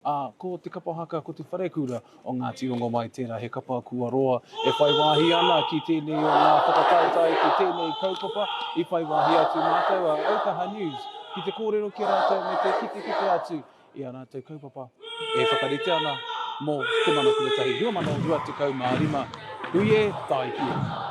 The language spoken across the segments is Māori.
ā, ko te kapa haka ko te wharekura o Ngāti Rongomai tērā he kapa kua roa e whai wāhi ana ki tēnei o ngā whakataetae ki tēnei kaupapa i whai wāhi atu mātou a Autaha News ki te kōrero ki a rātou me te kitekite atu i ā rātou kaupapa e whakarite ana mō Te Mana Tuatahi 2025 Hui e tae ki e!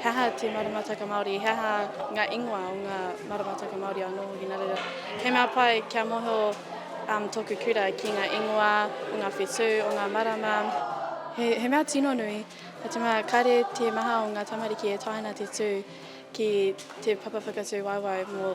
He aha te maramataka Māori? He aha ngā ingoa o ngā maramataka Māori o Nō Hinarira? He mea pai kia mōhio tōku kura ki ngā ingoa o ngā whetū, o ngā marama. He, he mea tino nui, nā te mea kāre te maha o ngā tamariki e taea ana te tū ki te papa whakatū waiwai mō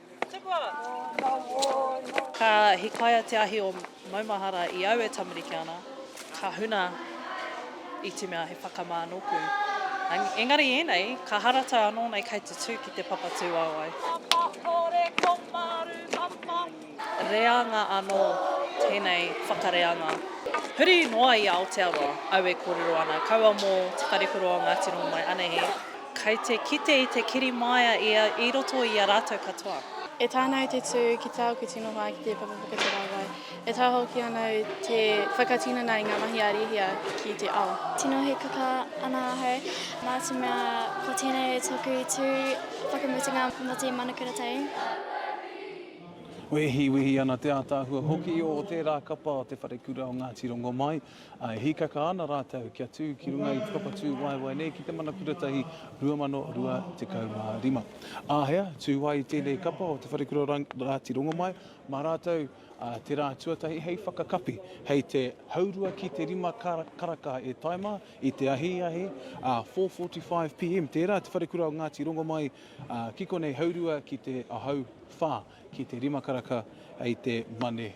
Ka hikaia te ahi o maumahara i au e tamariki ana, ka huna i te mea he whakamā nōku. Engari ēnei, ka haratau anō nei kei te tū ki te papa tūāwai. Reanga anō tēnei whakareanga. Huri noa i Aotearoa, au e kōrero ana, kaua mō Te Wharekura o Ngāti Rongomai, anahe. Kei te kite i te kiri māia ia i roto i a rātou katoa. E taea ana au te tū ki te ao kutino hoa ki te papa whakatarawae. E taea hoki ana au te whakatinana i ngā mahi a Rīhia ki te ao. Tino hīkaka ana ahau, nā te mea ko tēnei tōku tū whakamutunga mō te Manukura Tau. Wehi, wehi ana te ātaahua hoki o tērā kapa o te Wharekura o Ngāti Rongomai. E hīkaka ana rātou kia tū ki runga i te papatū waewae nei ki te Mana Kuratahi 2025. Āhea, tū ai tēnei kapa o Te Wharekura Rāti Rongomai mā rātou te rā tuatahi hei whakakapi, hei te haurua ki te rima karaka e tae mā i te ahiahi, 4:45 pm tērā, Te Wharekura o Ngāti Rongomai, ki konei haurua ki te ahau whā ki te rima karaka hei te Mane.